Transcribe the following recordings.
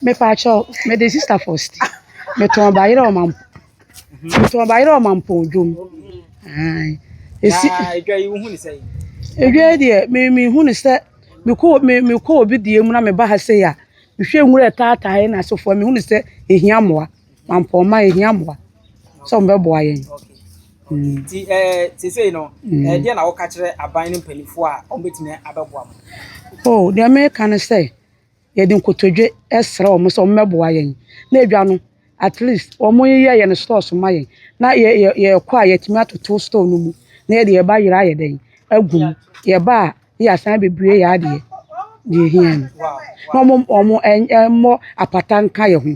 Mepatwɔ, mede sista fɔsti. Metɔn bayerɛ ɔmampo. Metɔn bayerɛ ɔmampo dwom. Ae. Esi. Na edwa yi wohu ne sɛ? Edwa yi deɛ me mehu ne sɛ mekɔ me mekɔ obi deɛ mu na meba ha sɛ ya. Mehwɛ nwura taatae na asofoɔ mehu ne sɛ ehia mmoa. Mampɔn ma ehia mmoa. Sɛ wɔn bɛboa yɛn. Mm. Ti eh ti sɛ no. Mm. Eh deɛ na wɔka kyerɛ aban ne mpanimfoɔ a wɔn betumi abɛboa mo. Oh, deɛ meka ne sɛ yɛde nkotodwe srɛ wɔn sɛ wɔmmɛboa yɛn. Na edwa no, at least wɔyeyɛ yɛn stores ma yɛn. Na yɛ yɛ yɛkɔ a yɛtumi atoto store no mu na yɛde yɛn ba yere ayɛ dɛn agu mu. Yɛba a na yɛasan abɛbue yɛn adeɛ deɛ ɛhia no. Na wɔn wɔn mmɔ apata nka yɛn ho.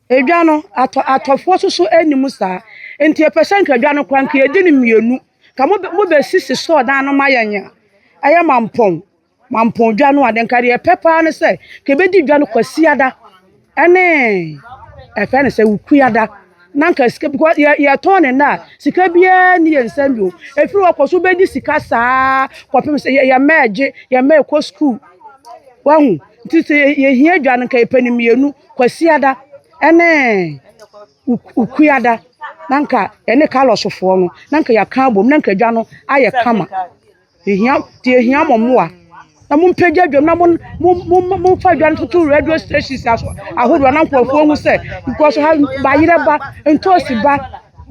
Edwa no, atɔ atɔfoɔ soso ɛni mu saa. Nti yɛpɛ sɛ nka edwa no kora nka yɛdi no mmienu. Ka mo mo bɛ sisi sɔɔ dan no ma yɛ nyɛ. Ɛyɛ mampɔn. Mampɔn dwa no a, nka deɛ yɛpɛ paa ne sɛ, ka yɛbɛdi dwa no kwasiada. Ɛne ɛfɛ ne sɛ wukuada. Na nka sika bi kɔ yɛ yɛtɔn ne nna a, sika biara ni yɛn nsɛm bio. Efiri hɔ kɔ so bɛdi sika saa kɔ pem sɛ yɛ yɛ mma ɛgye, yɛ mma ɛkɔ sukuu. Wahu? nti sɛ yɛhia adwa no nka yɛpɛ no mmienu kwasiada ne ukuada na nka yɛne kalɔsofoɔ no na nka yɛaka abom na nka adwa no ayɛ kama yɛhia nti yɛhia mo mmoa na mompagya adwa mu na momfa adwa no toto radio stations ahodoɔ na nkurɔfoɔ hu sɛ because ha bayerɛ ba ntoosi ba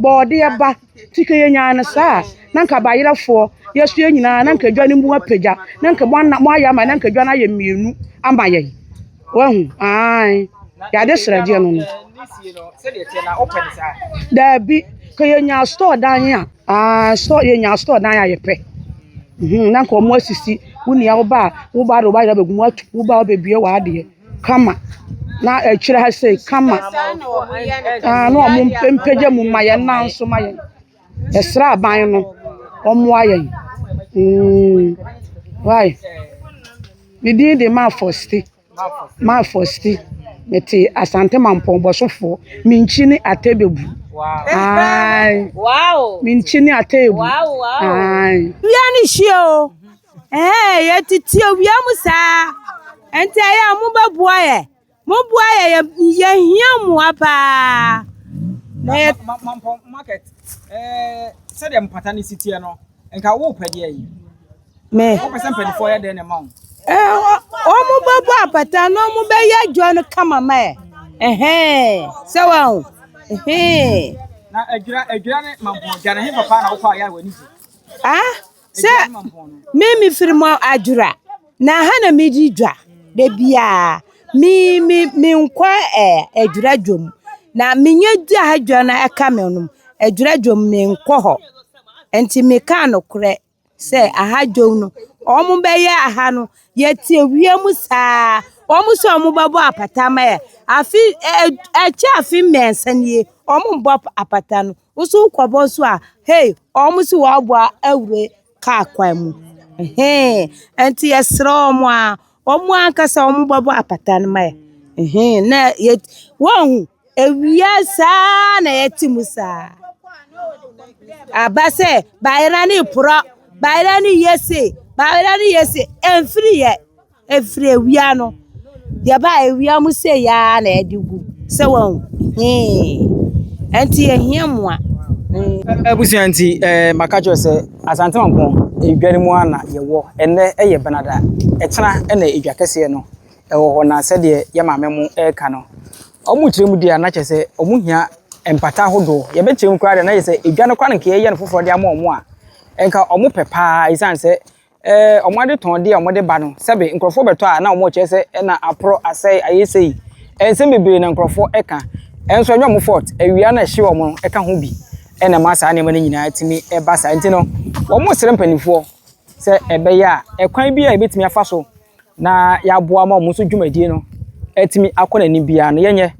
bɔɔdeɛ ba Nti ka yɛnyaa no saa a, na anka bayerɛfoɔ, yɛso yɛn nyinaa, na anka dwa no mu apagya, na anka moana, moayɛ ama, na anka dwa no ayɛ mmienu ama yɛn. Wahu? Ae. Yɛade srɛdeɛ no no. Daabi, ka yɛnyaa store dan a, ae, store, yɛnyaa store dan a yɛpɛ. Hmm, na anka wɔn asisi, wo nua, wo ba a, wo ba de wo bayerɛ abɛgu mu atu, wo ba a wabɛbue w'adeɛ. kama na ɛkyerɛ ha sei kama na wɔn mpagya mu ma yɛn nan so ma yɛn ɛsraban no wɔn moa yɛn mm wai ne din de mafosti mafosti ne te asante mampɔn bɔsofoɔ me nkyi ne atɛbebu aai me nkyi ne atɛbebu aai. Wia ne hyia o. Ɛɛ, yɛtete awia mu saa. Ɛnti ɛyɛ a mobɛboa yɛ. Moboa yɛ yɛ yɛhia mmoa paa. Na yɛ. Mampɔn market ɛɛ sɛdeɛ mpata no si teɛ no nka wopɛ deɛ yi. Me. Wopɛ sɛ mpanimfoɔ yɛ dɛn na ɛma wo. Ɛɛ wɔn bɛbɔ apata na wɔn bɛyɛ adwa no kama ma yɛ. Ɛhɛn sɛ wɔn ho. Ɛhɛn. Na adwira adwira ne mampɔn adwa no hefa paa na wokɔ a yɛ a w'ani gye. Ah. Sɛ me me firi mu adwora na ha na me di dwa da biara me me me nkɔ ɛɛ eh, adwora dwom na me nyɛ di ha dwa na ɛka me nom adwora dwom me nkɔ hɔ nti me ka no korɛ sɛ aha dwom no wɔn bɛyɛ aha no yɛte awia mu saa wɔn sɛ wɔn bɛbɔ apata ma yɛ afi ɛɛ eh, ɛkyɛ afi mmiɛnsa nie wɔn bɔ apata no. Wo so wokɔbɔ so a, hei, wɔn so wɔaboa awura kaa kwan mu. Hee, ɛnti yɛsrɛ wɔn a, wɔn ankasa wɔn bɛbɔ apata no ma yɛ. Hee, na yɛ, wɔhu, ewia saa na yɛte mu saa. Aba sɛ, bayera ne porɔ, bayera ne yese, bayera ne yese, ɛmfiri yɛ. Ɛfiri awia no, deɛ ɛba a awia mu sei ara na ɛde gu. Sɛ wɔn hee. Ɛnti yɛhia mmoa. Abusua nti ɛɛ maka kyerɛ sɛ Asante Mampɔn edware mu ara na yɛwɔ. Ɛnɛ ɛyɛ Benada. Ɛkyena ɛna edwa kɛseɛ no ɛwɔ hɔ na sɛdeɛ yɛ maame mo ɛreka no. Wɔn kyerɛ mu deɛ a na kyerɛ sɛ wɔn hia mpata ahodoɔ. Yɛbɛkyerɛ mu koraa deɛ na kyerɛ sɛ edwa no koraa na nka yɛyɛ no foforɔ de ama wɔn a nka wɔn pɛ paa esiane sɛ ɛɛ wɔn adetɔndeɛ a wɔde ba no, sɛbe nkorɔfoɔ bɛtɔ a na wɔkyerɛ sɛ ɛna aporɔ, asɛe, ayɛ sei. Nsɛm bebree na nkorɔfoɔ ka. Nso ɛnyɛ wɔn fault. Awia no a ɛhye wɔn no ɛka ho bi na ɛma saa nneɛma no nyinaa tumi ba saa. Nti no, wɔsrɛ mpanimfoɔ sɛ ɛbɛyɛ a, ɛkwan biara a yɛbɛtumi afa so na yɛaboa ma wɔn nso dwumadie no atumi akɔ n'anim biara no yɛnyɛ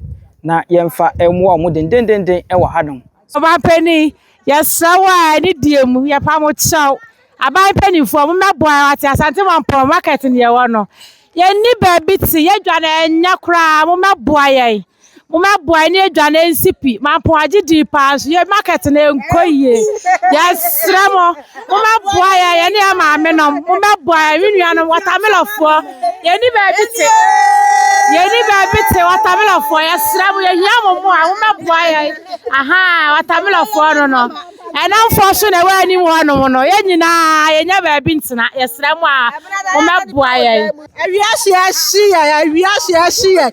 na yɛmfa mmoa wɔn dendenenden wɔ hanom. Ɔmanpanin, yɛsrɛ wo a ɛne deɛ mu, yɛpa mo kyɛw. Aban mpanimfoɔ, mo mmɛboa yɛn wate, Asante Mampɔn market ne yɛwɔ no. Yɛnni baabi te, yɛdwane ɛnyɛ koraa, mo mmɛboa yɛn. Mo mmɛboa yɛn ne yɛdwane ɛnsi pi, Mampɔn agye din paa nso yɛn market no ɛnkɔ yie. Yɛsrɛ mo. Mommɛboa yɛn, yɛne yɛn maamenom. Mommɛboa yɛn, me nuanom, wɔtamelɔfoɔ. Yɛnni baabi te. Yɛnni baabi te, wɔtamelɔfoɔ. Yɛsrɛ mo, yɛhia mo mmoa. Mommɛboa yɛn. Ahaa, wɔtamelɔfoɔ no no. Ɛnamfoɔ so na ɛwɔ anim hɔnom no. Yɛn nyinaa, yɛnnya baabi ntena. Yɛsrɛ mo a, mommɛboa yɛn. Awiase ahye yɛn, awiase ahye yɛn.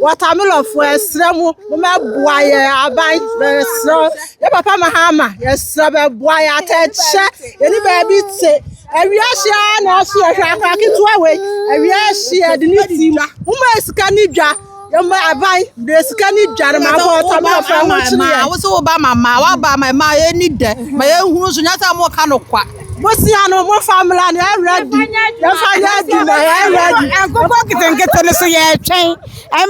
Wɔtamelɔfoɔ ɛsrɛ mo mo mɛboa yɛn aban ɛsrɛ yɛ papa Mahama yɛsrɛ bɛboa yɛn atɛkyɛ yɛne baabi te awiase ara na ɛso yɛhwɛ akora ketewa wei awiase yɛde ne ti mo ma sika ne dwa. Yɛma aban brɛ sika ne dware ma abɔ ɔta ma ɔfra ho kyere yɛ. Wo sɛ woba ma mmaa, woaba ma mmaa yɛni dɛ ma yɛhunu so nyɛ sɛ moka no kwa. Bosia no mo fa mmla no ɛwura di yɛfa yɛ adwuma ɛwura di. Nkokɔ nketenkete no so yɛtwɛn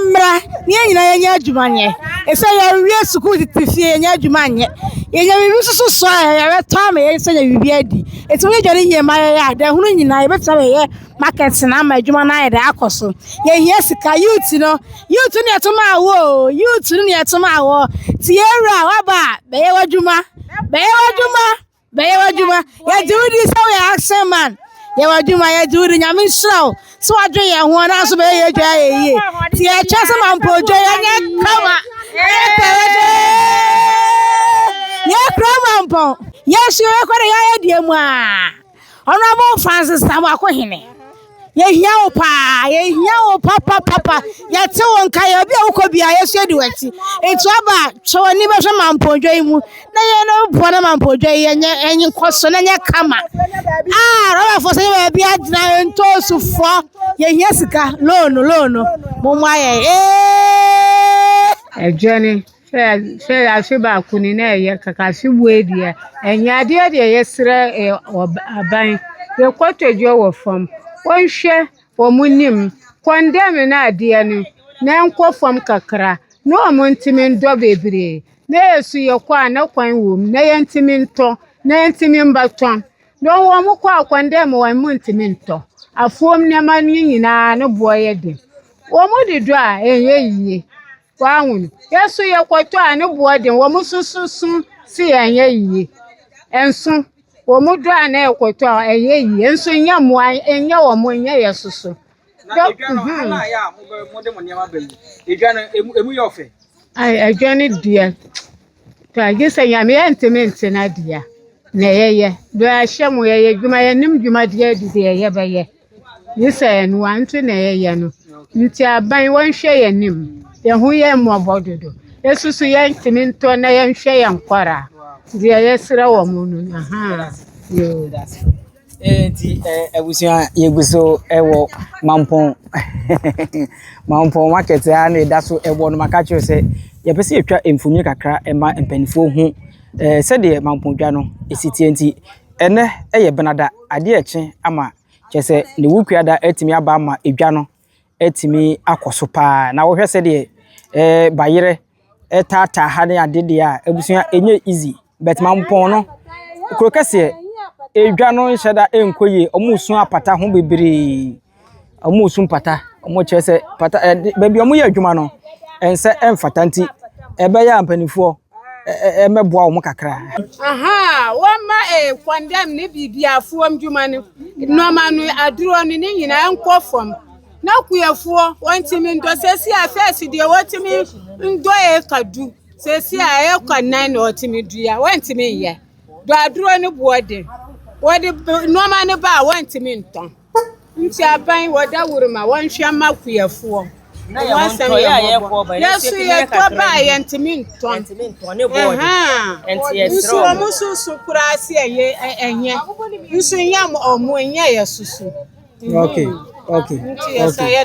mmra ne yɛn nyinaa yɛnyɛ adwuma nyɛ. Ɛsɛ yɛwie sukuu tete fie yɛnyɛ adwuma nyɛ. Yɛnyɛ biribi soso so a yɛbɛtɔ ama yɛn sɛ yɛ biribi adi. Ɛsɛ woyɛ dwane yie ma yɛyɛ a dɛ hunu nyinaa yɛbɛtumi ayɛ Market no ama adwuma no ayɛ dɛ akɔ so. Yɛhia sika. Youth no, youth ne yɛto maa wo o, youth no ne yɛto maa wɔ. Ti yɛwura, waba a, bɛyɛ w'adwuma, bɛyɛ w'adwuma, bɛyɛ w'adwuma. Yɛgye wo di sɛ woyɛ action man. Yɛ w'adwuma, yɛgye wo di. Nyame nhyira wo sɛ wadwen yɛn ho, ɛno nso bɛyɛ yɛn adwa ayɛ yie. Ti yɛkyɛ sɛ ma mpo odwa yɛnyɛ kama, yɛyɛ pɛrɛdɛɛ. Yɛkura ma mpɔn, yɛnso yɛbɛkɔ dɛ yɛayɛ deɛ mu a. Honourable Francis Samuako Hene, yɛhia wo paa, yɛhia wo papapapa, yɛte wo nka, yɛ obi a wokɔ bia yɛsua di w'akyi. Nti aba twɛ w'ani bɛhwɛ mampɔdwa yi mu na yɛn no boa na mampɔdwa yi yɛnyɛ ɛnye nkɔ so na nyɛ kama. Ah, rɔbafoɔ sɛ yɛ baabi agyina ntoosufoɔ, yɛhia sika, loan, loan, mo mmoa yɛn. Ee! Adwane Sɛ yɛase baako ni na ɛyɛ kaka ase bue deɛ ɛnyɛ adeɛ deɛ yɛsrɛ aban yɛkɔtɔdwa wɔ fam wɔnhwɛ wɔn nim kɔndɛm no adeɛ no na ɛnkɔ fam kakra na wɔn ntumi ntɔ bebree na yɛ nso yɛkɔ a na kwan wɔ mu na yɛntumi ntɔ na yɛntumi mma tɔn na wɔn kɔ a kɔndɛm wɔn mu ntumi ntɔ afuom nneɛma no nyinaa ne boɔ yɛ den wɔn de dɔ a ɛnyɛ yie. W'ahun? Yɛ nso yɛ kɔtɔ a ne boɔ den, wɔn sososo se yɛ nyɛ yie. Nso, wɔn dɔ a na yɛ kɔtɔ a ɛyɛ yie, nso nyɛ mmoa, nyɛ wɔn, nyɛ yɛ soso. Na edwa no, mhm. hana ayɛ a mo de mo nneɛma ba yi, edwa no, emu yɛ ɔfɛ. Ai, edwa no deɛ, tɔ agye sɛ nyame yɛ ntumi nte no adeɛ a, na yɛyɛ. Bɛahyɛ mo, yɛyɛ adwuma, yɛnim dwumadeɛ adi deɛ yɛbɛyɛ. Nye sɛ yɛn wa nti na yɛyɛ no nti aban wɔnhwɛ yɛn anim, yɛn ho yɛ mmɔbɔ dodo. Yesu so yɛntumi ntɔ na yɛnhwɛ yɛn kɔra deɛ yɛsrɛ wɔn no no ahaa yoo. Eti abusua yɛgu so wɔ mampɔn mampɔn market a na ɛda so ɛwɔ no maka kyerɛ sɛ yɛpɛ sɛ yɛtwa mfonini kakra ɛma mpanimfoɔ ho sɛdeɛ mampɔn dwa no ɛsi tie nti Ɛnnɛ yɛ Benada, adeɛ rekye ama kyerɛ sɛ Newukuada atumi aba ama edwa no atumi akɔ so paa. Na wohwɛ sɛdeɛ eh, bayerɛ taataa ha ne ade deɛ a, abusua ɛnyɛ easy. But Mampɔn no, kuro kɛseɛ, edwa no nhyɛ da nkɔ yie, wɔn resu apata ho bebree. wɔresu mpata. Wɔkyerɛ sɛ pata ɛɛ de baabi a wɔyɛ adwuma no, nsa mfata nti, ɛbɛyɛ a mpanimfoɔ ɛ ɛ ɛmmɛboa wɔn kakra. Aha, wɔmma eh, kɔndɛm ne biribiafoɔ ndwuma no, nnoɔma no, aduro no, ne nyinaa nkɔ fam. Na kuafoɔ, wɔntumi ndɔ. Seesei a fɛɛse deɛ wɔtumi ndɔ eka du. Seesei a eka nan na wɔtumi dua, wɔntumi nyɛ. Dɔ aduro no boɔ den. Wɔde nnoɔma no ba a, wɔntumi ntɔn. Nti aban wɔ daworo ma wɔnhwɛ mma akuafoɔ. Ɛho asɛm yɛ mmɔbɔ. Yɛso yɛtɔ ba a yɛntumi ntɔn. Nso wɔn nso so koraa se ɛyɛ ɛnyɛ. Nso nyɛ wɔn ɛnyɛ yɛ soso. Okay, okay, okay.